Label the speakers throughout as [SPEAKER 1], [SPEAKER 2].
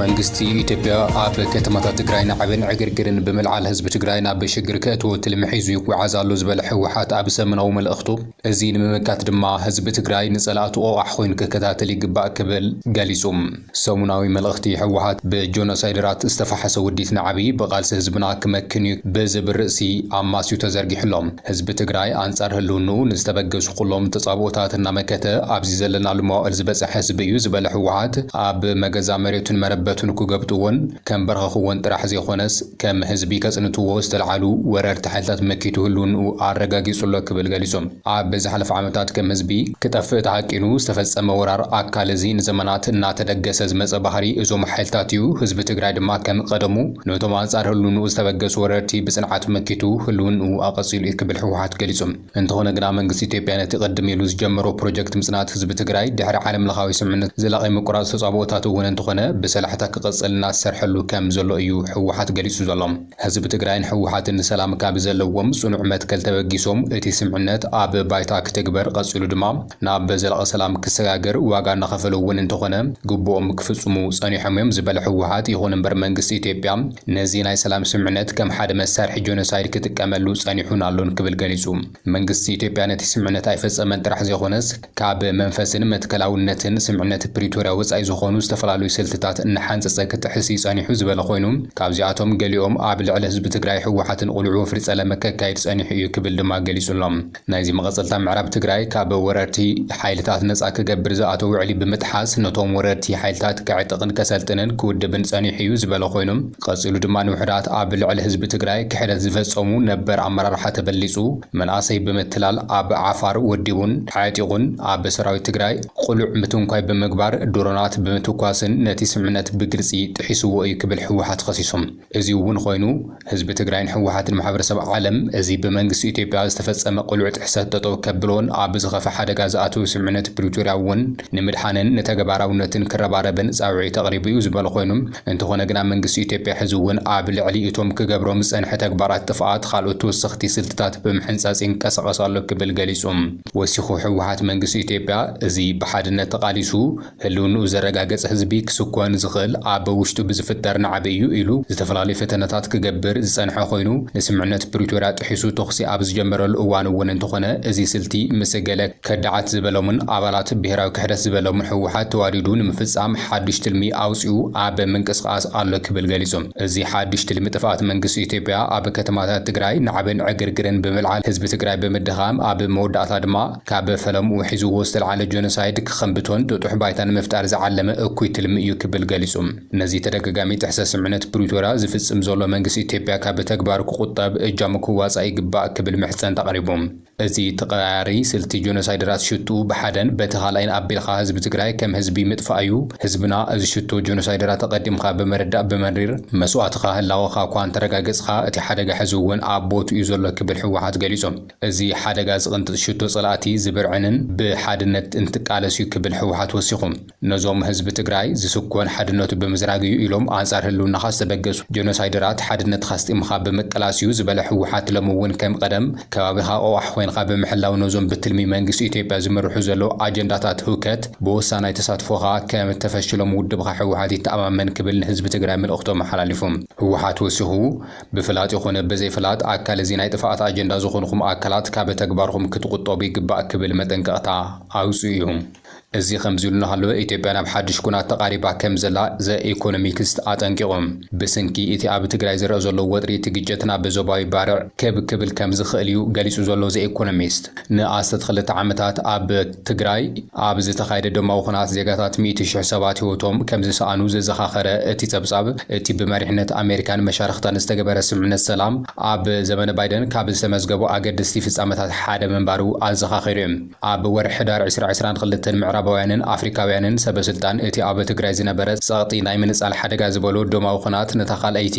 [SPEAKER 1] መንግስቲ ኢትዮጵያ ኣብ ከተማታት ትግራይ ናዕብን ዕግርግርን ብምልዓል ህዝቢ ትግራይ ናብ ሽግር ከእትዎ ትልሚ ሒዙ ይጓዓዝ ኣሎ ዝበለ ህወሓት ኣብ ሰሙናዊ መልእኽቱ እዚ ንምምካት ድማ ህዝቢ ትግራይ ንፀላእቱ ቆቛሕ ኮይኑ ክከታተል ይግባእ ክብል ገሊፁ። ሰሙናዊ መልእኽቲ ህወሓት ብጆኖሳይደራት ዝተፋሕሰ ውዲት ናዕቢ ብቓልሲ ህዝብና ክመክን እዩ ብዝብል ርእሲ ኣማስዩ ተዘርጊሑ ኣሎ። ህዝቢ ትግራይ ኣንጻር ህልውንኡ ንዝተበገሱ ኩሎም ተጻብኦታት እናመከተ ኣብዚ ዘለናሉ መዋእል ዝበጸሐ ህዝቢ እዩ ዝበለ ህወሓት፣ ኣብ መገዛ መሬቱን መረበቱን ክገብጥዎን ከምበርኸኽዎን ጥራሕ ዘይኮነስ ከም ህዝቢ ከጽንትዎ ዝተልዓሉ ወረርቲ ሓይልታት መኪቱ ህልውንኡ ኣረጋጊጹ'ሎ ክብል ገሊጹ። ኣብ ዝሓለፈ ዓመታት ከም ህዝቢ ክጠፍእ ተሃቂኑ ዝተፈጸመ ወራር ኣካል እዚ ንዘመናት እናተደገሰ ዝመጸ ባህሪ እዞም ሓይልታት እዩ፣ ህዝቢ ትግራይ ድማ ከም ቀደሙ፣ ነቶም ኣንጻር ህልውንኡ ዝተበገሱ ወረርቲ ብጽንዓት መኪቱ ህልውንኡ ኣቐጺሉ እዩ ክብል ህወሓት ገሊጹ። እንተኾነ ግና መንግስቲ ኢትዮጵያ ነቲ ቅድም ኢሉ ዝጀመሮ ፕሮጀክት ምጽናት ህዝቢ ትግራይ ድሕሪ ዓለምለኻዊ ስምምነት ዘላቒ ምቁራጽ ተጻብኦታቱ እውን እንተኾነ ብሰላሕታ ክቕጽል እናተሰርሐሉ ከም ዘሎ እዩ ህወሓት ገሊጹ ዘሎ። ህዝቢ ትግራይን ህወሓትን ንሰላም ካብ ዘለዎም ጽኑዕ መትከል ተበጊሶም እቲ ስምዕነት ኣብ ባይታ ክትግበር ቐጺሉ ድማ ናብ ዘላቒ ሰላም ክሰጋገር ዋጋ እናኸፈሉ እውን እንተኾነ ግቡኦም ክፍፅሙ ፀኒሖም እዮም ዝበለ ህወሓት፣ ይኹን እምበር መንግስቲ ኢትዮጵያ ነዚ ናይ ሰላም ስምምዕነት ከም ሓደ መሳርሒ ጆኖሳይድ ክጥቀመሉ ፀኒሑን ኣሎን ክብል ገሊፁ። መንግስቲ ኢትዮጵያ ነቲ ስምምዕነት ኣይፈፀመን ጥራሕ ዘይኾነስ ካብ መንፈስን መትከላውነትን ስምምዕነት ፕሪቶርያ ወፃኢ ዝኾኑ ዝተፈላለዩ ስልትታት እናሓንፀፀ ክጥሕስ እዩ ፀኒሑ ዝበለ ኮይኑ ካብዚኣቶም ገሊኦም ኣብ ልዕሊ ህዝቢ ትግራይ ህወሓትን ቁልዒ ወፍሪ ፀለመ ከካይድ ፀኒሑ እዩ ክብል ድማ ገሊፁ ኣሎ። ናይዚ መቐጸልታ ምዕራብ ትግራይ ካብ ወረርቲ ሓይልታት ነጻ ክገብር ዝኣተዎ ውዕሊ ብምጥሓስ ነቶም ወረርቲ ሓይልታት ከዕጥቕን ከሰልጥንን ክውድብን ጸኒሑ እዩ ዝበለ ኮይኑ ቀጺሉ ድማ ንውሑዳት ኣብ ልዕሊ ህዝቢ ትግራይ ክሕደት ዝፈጸሙ ነበር ኣመራርሓ ተበሊጹ መንኣሰይ ብምትላል ኣብ ዓፋር ወዲቡን ኣዕጢቑን ኣብ ሰራዊት ትግራይ ቕሉዕ ምትንኳይ ብምግባር ድሮናት ብምትኳስን ነቲ ስምምነት ብግልጺ ጥሒስዎ እዩ ክብል ህወሓት ኸሲሱ። እዚ'ውን ኾይኑ ህዝቢ ትግራይን ህወሓትን ማሕበረሰብ ዓለም እዚ ብመንግስቲ ኢትዮጵያ ዝተፈፀመ ቅሉዕ ጥሕሰት ጠጠው ከብሎን ኣብ ዝኸፍእ ሓደጋ ዝኣትው ስምምዕነት ፕሪቶርያ እውን ንምድሓንን ንተገባራውነትን ክረባረብን ፃውዒት ኣቕሪቡ ዩ ዝበሉ ኾይኑ እንተኾነ ግና መንግስቲ ኢትዮጵያ ሕዚ'ውን ኣብ ልዕሊ እቶም ክገብሮም ዝፀንሐ ተግባራት ጥፍኣት ኻልኦት ተወሰኽቲ ስልትታት ብምሕንፃፅ ይንቀሳቐስ ኣሎ ክብል ገሊፁ። ወሲኹ ህወሓት መንግስቲ ኢትዮጵያ እዚ ብሓድነት ተቓሊሱ ህልውንኡ ዘረጋገፅ ህዝቢ ክስኮን ዝኽእል ኣብ ውሽጡ ብዝፍጠር ናዕቢ እዩ ኢሉ ዝተፈላለዩ ፈተነታት ክገብር ዝፀንሐ ኮይኑ ንስምምዕነት ፕሪቶርያ ጥሒሱ ተኹሲ ኣብ ዝጀመረሉ እዋን እውን እንተኾነ እዚ ስልቲ ምስ ገለ ከዳዓት ዝበሎምን ኣባላት ብሄራዊ ክሕደት ዝበሎምን ህወሓት ተዋዲዱ ንምፍፃም ሓዱሽ ትልሚ ኣውፂኡ ኣብ ምንቅስቓስ ኣሎ ክብል ገሊፁ። እዚ ሓዱሽ ትልሚ ጥፍኣት መንግስቲ ኢትዮጵያ ኣብ ከተማታት ትግራይ ናዕብን ዕግርግርን ብምልዓል ህዝቢ ትግራይ ብምድኻም ኣብ መወዳእታ ድማ ካብ ፈለምኡ ሒዝዎ ዝተልዓለ ጆኖሳይድ ክኸምብቶን ጥጡሕ ባይታ ንምፍጣር ዝዓለመ እኩይ ትልሚ እዩ ክብል ገሊጹ። ነዚ ተደጋጋሚ ጥሕሰት ስምምዕነት ፕሪቶርያ ዝፍጽም ዘሎ መንግስቲ ኢትዮጵያ ካብ ተግባሩ ክቑጠብ እጃሙ ክዋጻእ ይግባእ ክብል ምሕጸንታ ኣቕሪቡ። እዚ ተቐያያሪ ስልቲ ጆኖሳይደራት ሽትኡ ብሓደን በቲ ካልኣይን ኣቢልካ ህዝቢ ትግራይ ከም ህዝቢ ምጥፋእ እዩ። ህዝብና እዚ ሽቶ ጆኖሳይደራት ኣቐዲምካ ብምርዳእ ብመሪር መስዋእትኻ ህላወኻ'ኳ እንተረጋገጽኻ እቲ ሓደጋ ሕዚ'ውን ኣብ ቦትኡ እዩ ዘሎ ክብል ህወሓት ገሊጹ። እዚ ሓደጋ ዝቕንጥጥ ሽቶ ፀላእቲ ዝብርዕንን ብሓድነት እንትቃለስ ዩ ክብል ህወሓት ወሲኹ ነዞም ህዝቢ ትግራይ ዝስኮን ሓድነቱ ብምዝራግ ዩ ኢሎም ኣንፃር ህልውናኻ ዝተበገሱ ጀኖሳይደራት ሓድነትኻ ኣስጢምኻ ብምቅላስ ዩ ዝበለ ህወሓት ሎሚ ውን ከም ቐደም ከባቢኻ ቐዋሕ ኾይንኻ ብምሕላው ነዞም ብትልሚ መንግስቲ ኢትዮጵያ ዝምርሑ ዘለው ኣጀንዳታት ህውከት ብወሳናይ ተሳትፎኻ ከምተፈሽሎም ውድብኻ ህወሓት ይተኣማመን ክብል ንህዝቢ ትግራይ መልእኽቱ ኣመሓላሊፉ ህወሓት ወሲኹ ብፍላጥ ይኹን ብዘይፍላጥ ኣካል እዚ ናይ ጥፍኣት ኣጀንዳ ዝኾንኹም ኣካላት ካብ ተግባርኹም ክትቑጠቡ ይግባእ ክብል መጠንቀቕታ ኣውጺኡ እዩ። እዚ ከምዚ ኢሉ እናሃለወ ኢትዮጵያ ናብ ሓድሽ ኩናት ተቓሪባ ከም ዘላ ዘ ኢኮኖሚክስት ኣጠንቂቑ። ብስንኪ እቲ ኣብ ትግራይ ዝረእ ዘሎ ወጥሪ እቲ ግጭት ናብ ዞባዊ ባርዕ ክብ ክብል ከም ዝኽእል እዩ ገሊጹ ዘሎ ዘ ኢኮኖሚስት። ንኣስታት ክልተ ዓመታት ኣብ ትግራይ ኣብ ዝተኻየደ ደማዊ ኹናት ዜጋታት ሚእቲ ሽሕ ሰባት ህይወቶም ከምዝሰኣኑ ዘዘኻኸረ እቲ ፀብፃብ፣ እቲ ብመሪሕነት ኣሜሪካን መሻርኽታን ዝተገበረ ስምምዕነት ሰላም ኣብ ዘመነ ባይደን ካብ ዝተመዝገቡ ኣገደስቲ ፍፃመታት ሓደ ምንባሩ ኣዘኻኺሩ እዩ። ኣብ ወርሒ ሕዳር ዕስራ ዕስራን ክልተን ምዕራባውያንን ኣፍሪካውያንን ሰበስልጣን እቲ ኣብ ትግራይ ዝነበረ ፀቕጢ ናይ ምንፃል ሓደጋ ዝበሎ ደማዊ ኹናት ነታ ካልኣይቲ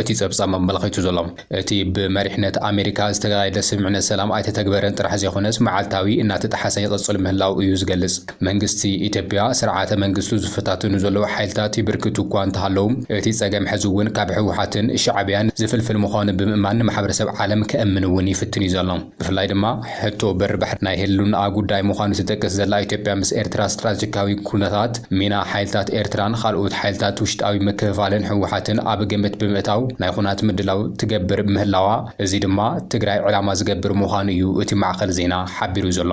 [SPEAKER 1] እቲ ጸብጻብ ኣመልኺቱ ዘሎ፣ እቲ ብመሪሕነት ኣሜሪካ ዝተጋየደ ስምምዕነት ሰላም ኣይተተግበረን ጥራሕ ዘይኮነስ መዓልታዊ እናተጠሓሰ ይቕጽል ምህላዉ እዩ ዝገልጽ። መንግስቲ ኢትዮጵያ፣ ስርዓተ መንግስቱ ዝፈታትኑ ዘለዉ ሓይልታት ይብርክቱ እኳ እንተሃለዉ፣ እቲ ጸገም ሕዚ እውን ካብ ህወሓትን ሻዕብያን ዝፍልፍል ምዃኑ ብምእማን ንማሕበረሰብ ዓለም ከእምን እውን ይፍትን እዩ ዘሎ። ብፍላይ ድማ ሕቶ በሪ ባሕሪ ናይ ህልውንኣ ጉዳይ ምዃኑ ትጠቅስ ዘላ ኢትዮጵያ ምስ ኤርትራ ስትራቴጂካዊ ኩነታት፣ ሚና ሓይልታት ኤርትራን ኻልኦት ሓይልታት ውሽጣዊ ምክፍፋልን ህወሓትን ኣብ ግምት ብምእታው ናይ ኹናት ምድላው ትገብር ምህላዋ እዚ ድማ ትግራይ ዕላማ ዝገብር ምዃኑ እዩ እቲ ማዕኸን ዜና ሓቢሩ ዘሎ።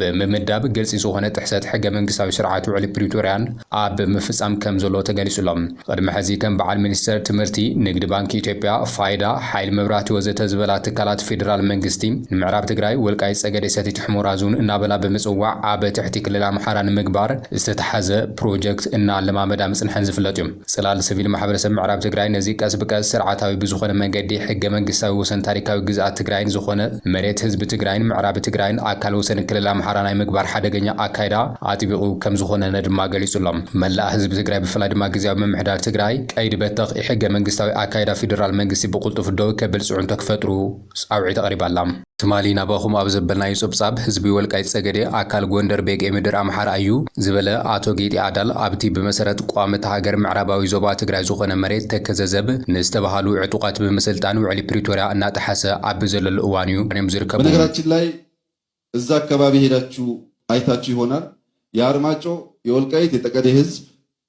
[SPEAKER 1] ብምምዳብ ግልፂ ዝኾነ ጥሕሰት ሕገ መንግስታዊ ስርዓት ውዕሊ ፕሪቶርያን ኣብ ምፍፃም ከም ዘሎ ተገሊፁ ኣሎ። ቕድሚ ሕዚ ከም በዓል ሚኒስቴር ትምህርቲ፣ ንግዲ ባንኪ ኢትዮጵያ፣ ፋይዳ፣ ሓይሊ መብራህቲ ወዘተ ዝበላ ትካላት ፌዴራል መንግስቲ ንምዕራብ ትግራይ፣ ወልቃይት ፀገዴ ሰቲት ሑመራ ዞን እናበላ ብምፅዋዕ ኣብ ትሕቲ ክልል ኣምሓራ ንምግባር ዝተትሓዘ ፕሮጀክት እናለማመዳ ምፅንሐን ዝፍለጥ ዩ። ጽላል ስቪል ማሕበረሰብ ምዕራብ ትግራይ ነዚ ቀስ ብቀስ ስርዓታዊ ብዝኾነ መንገዲ ሕገ መንግስታዊ ወሰን ታሪካዊ ግዝኣት ትግራይን ዝኾነ መሬት ህዝቢ ትግራይን ምዕራብ ትግራይን ኣካል ወሰን ክልል ኣምሓራ ናይ ምግባር ሓደገኛ ኣካይዳ ኣጥቢቑ ከምዝኾነነ ድማ ገሊጹ ኣሎ። መላእ ህዝቢ ትግራይ ብፍላይ ድማ ግዝያዊ ምምሕዳር ትግራይ ቀይዲ በተኽ ኢሕገ መንግስታዊ ኣካይዳ ፊደራል መንግስቲ ብቕልጡፍ ደው ከብል ጽዕንቶ ክፈጥሩ ጻውዒት ኣቕሪባ ኣላ። ትማሊ ናባኹም ኣብ ዘበልናዮ ጸብጻብ፣ ህዝቢ ወልቃይት ጸገዴ ኣካል ጎንደር ቤጌ ምድር ኣምሓራ ኣዩ ዝበለ ኣቶ ጌጤ ኣዳል፣ ኣብቲ ብመሰረት ቋሚ እታ ሃገር ምዕራባዊ ዞባ ትግራይ ዝኾነ መሬት ተከዘ ዘብ ንዝተባሃሉ ዕጡቓት ብምስልጣን ውዕሊ ፕሪቶርያ እናጠሓሰ ኣብ ዘለሉ እዋን እዩ ኾይኖም ዝርከቡ። በነገራችን ላይ
[SPEAKER 2] እዛ አካባቢ ሄዳችሁ አይታችሁ ይሆናል የአርማጮ የወልቃይት የጠቀዴ ህዝብ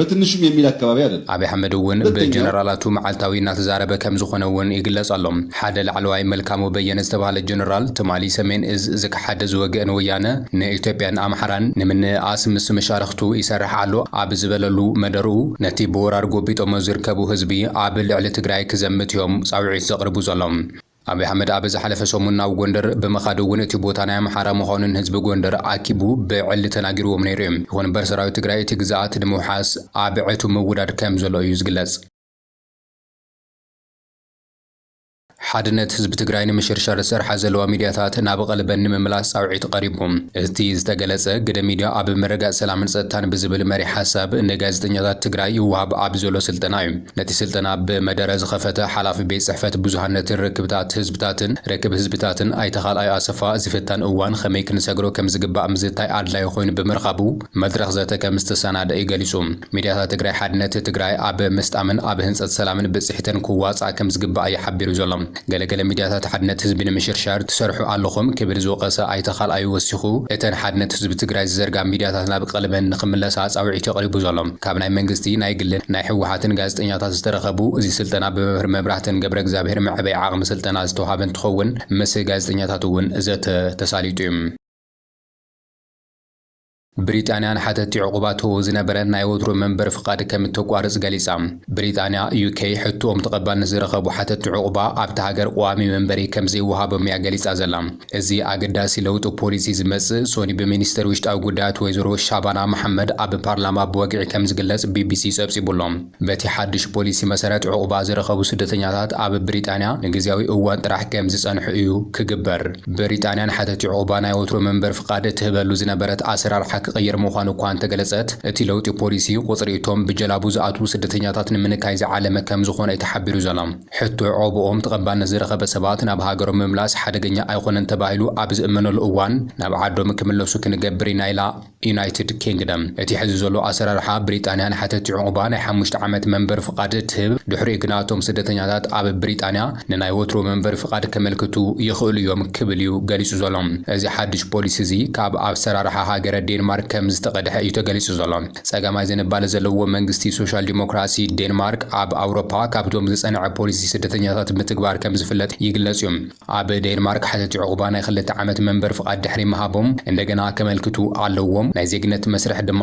[SPEAKER 2] በትንሹም የሚል ኣከባቢ ኣደለም። ኣብይ ኣሕመድ እውን
[SPEAKER 1] ብጀነራላቱ መዓልታዊ እናተዛረበ ከምዝኾነ እውን ይግለፅ ኣሎ። ሓደ ላዕለዋይ መልካሙ በየነ ዝተብሃለ ጀነራል ትማሊ ሰሜን እዝ ዝከሓደ ዝወገእ ንወያነ ንኢትዮጵያን ኣምሓራን ንምንእኣስ ምስ መሻርኽቱ ይሰርሕ ኣሎ ኣብ ዝበለሉ መደርኡ ነቲ ብወራር ጎቢጦሞ ዝርከቡ ህዝቢ ኣብ ልዕሊ ትግራይ ክዘምት እዮም ፃውዒት ዘቕርቡ ዘሎም። ኣብይ ኣሕመድ ኣብ ዝሓለፈ ሰሙን ናብ ጎንደር ብምኻድ እውን እቲ ቦታ ናይ ኣምሓራ ምዃኑ ንህዝቢ ጎንደር ኣኪቡ ብዕሊ ተናጊርዎም ነይሩ እዩ። ይኹን እምበር ሰራዊት ትግራይ እቲ ግዝኣት ንምውሓስ ኣብ ዕቱብ ምውዳድ ከም ዘሎ እዩ ዝግለፅ። ሓድነት ህዝቢ ትግራይ ንምሽርሻር ዝሰርሓ ዘለዋ ሚድያታት ናብ ቐልበን ንምምላስ ፃውዒት ቐሪቡ። እቲ ዝተገለፀ ግደ ሚድያ ኣብ ምርግጋፅ ሰላምን ፀጥታን ብዝብል መሪሕ ሓሳብ ንጋዜጠኛታት ትግራይ ይወሃብ ኣብ ዘሎ ስልጠና እዩ። ነቲ ስልጠና ብመደረ ዝኸፈተ ሓላፊ ቤት ጽሕፈት ብዙሃነትን ርክብታት ህዝብታትን፣ ርክብ ህዝብታትን፣ ኣይተ ካልኣይ ኣሰፋ፣ እዚ ፈታኒ እዋን ኸመይ ክንሰግሮ ከም ዝግባእ ምዝታይ ኣድላዪ ኾይኑ ብምርኻቡ መድረኽ ዘተ ከም ዝተሰናደ'ዩ ገሊጹ። ሚድያታት ትግራይ ሓድነት ትግራይ ኣብ ምስጣምን ኣብ ህንጸት ሰላምን ብጽሒተን ክዋጽኣ ከም ዝግባእ እዩ ሓቢሩ ዘሎ። ገለ ገለ ሚድያታት ሓድነት ህዝቢ ንምሽርሻር ትሰርሑ ኣለኹም ክብል ዝወቐሰ ኣይተ ካልኣዩ ወሲኹ፣ እተን ሓድነት ህዝቢ ትግራይ ዝዘርጋ ሚድያታት ናብ ቐልበን ንኽምለሳ ፃውዒት'ዩ ቐሪቡ ዘሎ። ካብ ናይ መንግስቲ፣ ናይ ግልን ናይ ህወሓትን ጋዜጠኛታት ዝተረኸቡ፣ እዚ ስልጠና ብመምህር መብራህተን ገብረእግዚኣብሄር መዕበይ ዓቕሚ ስልጠና ዝተውሃበ እንትኸውን ምስ ጋዜጠኛታት እውን ዘተ ተሳሊጡ ዩ። ብሪጣንያ ንሓተቲ ዑቕባቶ ዝነበረን ናይ ወትሩ መንበሪ ፍቓድ ከም እተቋርጽ ገሊጻ። ብሪጣንያ፣ UK፣ ሕቶኦም ተቐባልነት ዝረኸቡ ሓተቲ ዑቕባ ኣብታ ሃገር ቀዋሚ መንበሪ ከም ዘይወሃቦም እያ ገሊጻ ዘላ። እዚ ኣገዳሲ ለውጢ ፖሊሲ ዝመጽእ ሶኒ ብሚኒስተር ውሽጣዊ ጉዳያት ወይዘሮ ሻባና መሓመድ ኣብ ፓርላማ ብወግዒ ከም ዝግለጽ ቢቢሲ ጸብጺቡ'ሎ። በቲ ሓድሽ ፖሊሲ መሰረት ዑቕባ ዝረኸቡ ስደተኛታት ኣብ ብሪጣንያ ንግዝያዊ እዋን ጥራሕ ከም ዝጸንሑ እዩ ክግበር። ብሪጣንያ ንሓተቲ ዑቕባ ናይ ወትሩ መንበሪ ፍቓድ እትህበሉ ዝነበረት ኣሰራርሓ ክቕየር ምዃኑ እኳ እንተገለጸት፣ እቲ ለውጢ ፖሊሲ ቁጽሪ እቶም ብጀላቡ ዝኣትዉ ስደተኛታት ንምንካይ ዝዓለመ ከም ዝኾነ እዩ ተሓቢሩ ዘሎ። ሕቶ ዑቕብኦም ተቐባልነት ዝረኸበ ሰባት ናብ ሃገሮም ምምላስ ሓደገኛ ኣይኾነን ተባሂሉ ኣብ ዝእመነሉ እዋን ናብ ዓዶም ክምለሱ ክንገብር ኢና ኢላ። ዩናይትድ ኪንግደም፣ እቲ ሕዚ ዘሎ ኣሰራርሓ ብሪጣንያ ንሓተቲ ዑቕባ ናይ ሓሙሽተ ዓመት መንበሪ ፍቓድ ትህብ፣ ድሕሪኡ ግና እቶም ስደተኛታት ኣብ ብሪጣንያ ንናይ ወትሩ መንበሪ ፍቓድ ከመልክቱ ይኽእሉ እዮም ክብል እዩ ገሊጹ ዘሎ። እዚ ሓድሽ ፖሊሲ እዚ ካብ ኣሰራርሓ ሃገረ ዴንማርክ ከም ዝተቐድሐ እዩ ተገሊጹ ዘሎ። ጸጋማይ ዝንባለ ዘለዎ መንግስቲ ሶሻል ዲሞክራሲ ዴንማርክ ኣብ ኣውሮፓ ካብቶም ዝጸንዐ ፖሊሲ ስደተኛታት ምትግባር ከም ዝፍለጥ ይግለጽ እዩ። ኣብ ዴንማርክ ሓተቲ ዑቕባ ናይ ክልተ ዓመት መንበሪ ፍቓድ ድሕሪ ምሃቦም እንደገና ከመልክቱ ኣለዎም። ናይ ዜግነት መስርሕ ድማ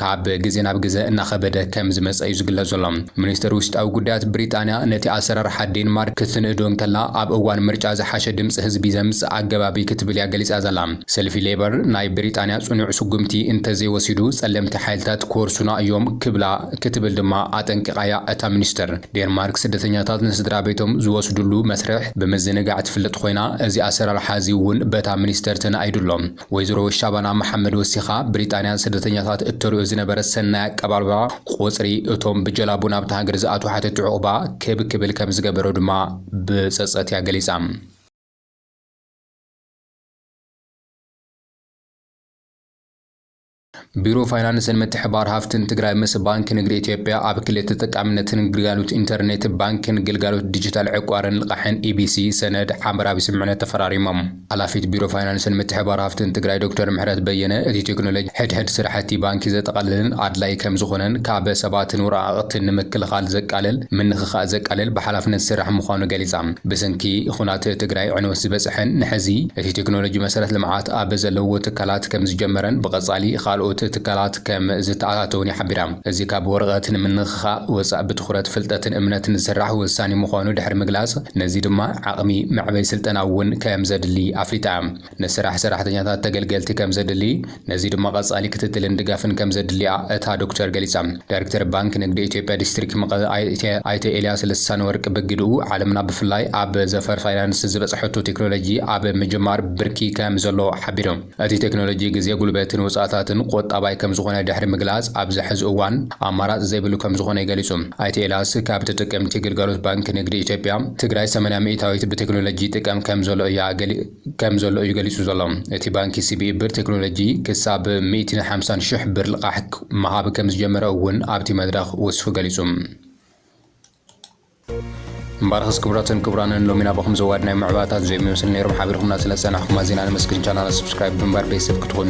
[SPEAKER 1] ካብ ግዘ ናብ ግዘ እናኸበደ ከም ዝመፀ እዩ ዝግለፅ ዘሎ። ሚኒስትር ውሽጣዊ ጉዳያት ብሪጣንያ ነቲ ኣሰራርሓ ዴንማርክ ክትንእዶ እንከላ ኣብ እዋን ምርጫ ዝሓሸ ድምፂ ህዝቢ ዘምፅእ ኣገባብ እዩ ክትብል እያ ገሊፃ ዘላ። ሰልፊ ሌበር ናይ ብሪጣንያ ፅኑዕ ስጉምቲ እንተዘይወሲዱ ፀለምቲ ሓይልታት ክወርሱና እዮም ክብላ ክትብል ድማ ኣጠንቂቓ እያ እታ ሚኒስትር። ዴንማርክ ስደተኛታት ንስድራቤቶም ዝወስድሉ መስርሕ ብምዝንጋዕ ትፍለጥ ኾይና፣ እዚ ኣሰራርሓ እዚ እውን በታ ሚኒስተር ተናኢዱ ኣሎ። ወይዘሮ ሻባና መሓመድ ወሲኻ፣ ብሪጣንያ ንስደተኛታት እተርእዮ ዝነበረት ሰናይ ኣቀባብላ፣ ቁጽሪ እቶም ብጀላቡ ናብታ ሃገር ዝኣትዉ ሓተቲ ዑቕባ ክብ ክብል ከም ዝገበሮ ድማ ብጸጸት እያ ገሊጻ። ቢሮ ፋይናንስን ምትሕብባር ሃፍትን ትግራይ ምስ ባንኪ ንግዲ ኢትዮጵያ ኣብ ክሊ ተጠቃምነትን ግልጋሎት ኢንተርኔት ባንኪን ግልጋሎት ዲጂታል ዕቋርን ልቓሕን ኢቢሲ ሰነድ ሓበራዊ ስምምዕነት ተፈራሪሞም። ሓላፊት ቢሮ ፋይናንስን ምትሕብባር ሃፍትን ትግራይ ዶክተር ምሕረት በየነ፣ እቲ ቴክኖሎጂ ሕድሕድ ስራሕቲ ባንኪ ዘጠቓልልን ኣድላዪ ከምዝኾነን ካብ ሰባትን ወረቓቕትን ንምክልኻል ዘቃልል፣ ምንኽኻእ ዘቃልል ብሓላፍነት ዝስራሕ ምዃኑ ገሊፃ። ብስንኪ ኹናት ትግራይ ዕንወት ዝበፀሐን ንሐዚ እቲ ቴክኖሎጂ መሰረት ልምዓት ኣብ ዘለውዎ ትካላት ከምዝጀመረን ብቐፃሊ ኻልኦት ትካላት ከም ዝተኣታተውን ይሓብራ። እዚ ካብ ወረቐት ንምንኽኻእ ወፃእ ብትኹረት ፍልጠትን እምነትን ዝስራሕ ወሳኒ ምዃኑ ድሕሪ ምግላፅ ነዚ ድማ ዓቕሚ መዕበይ ስልጠና እውን ከምዘድሊ ኣፍሊጣ። ንስራሕ ሰራሕተኛታት ተገልገልቲ ከምዘድሊ፣ ነዚ ድማ ቀጻሊ ክትትልን ድጋፍን ከምዘድሊ'ያ እታ ዶክተር ገሊጻ። ዳይረክተር ባንኪ ንግዲ ኢትዮጵያ ዲስትሪክ መቐለ ኣይተ ኤልያስ ልሳነወርቅ ብግደኡ፣ ዓለምና ብፍላይ ኣብ ዘፈር ፋይናንስ ዝበጽሐቶ ቴክኖሎጂ ኣብ ምጅማር ብርኪ ከምዘሎ ሓቢሩ። እቲ ቴክኖሎጂ ግዜ፣ ጉልበትን ወጻእታትን ቆጣባይ ከምዝኾነ ድሕሪ ምግላጽ፣ ኣብዚ ሕዚ እዋን ኣማራጺ ዘይብሉ ከምዝኾነ ገሊጹ። ኣይተ ኤልያስ ካብ ተጠቀምቲ ግልጋሎት ባንኪ ንግዲ ኢትዮጵያ፣ ትግራይ ሰማንያ ሚኢታዊት ብቴክኖሎጂ ይጥቀም ከምዘሎ እያ ገሊጹ። ከም ዘሎ እዩ ገሊጹ ዘሎ። እቲ ባንኪ ሲቢኢ ብር ቴክኖሎጂ ክሳብ ሚእቲን ሓምሳን ሽሕ ብር ልቓሕ ምሃብ ከም ዝጀመረ እውን ኣብቲ መድረኽ ወሲኹ ገሊጹ። እምበኣርኸስ ክቡራትን ክቡራንን ሎሚ ናባኹም ዘዋድ ናይ ምዕባለታት ዘይምመስል ነይሮም ሓቢርኩምና ስለ ዝጸናሕኩም ኣዚና ነመስግን ቻናልና ስብስክራይብ ብምግባር ቤተሰብ ክትኾኑ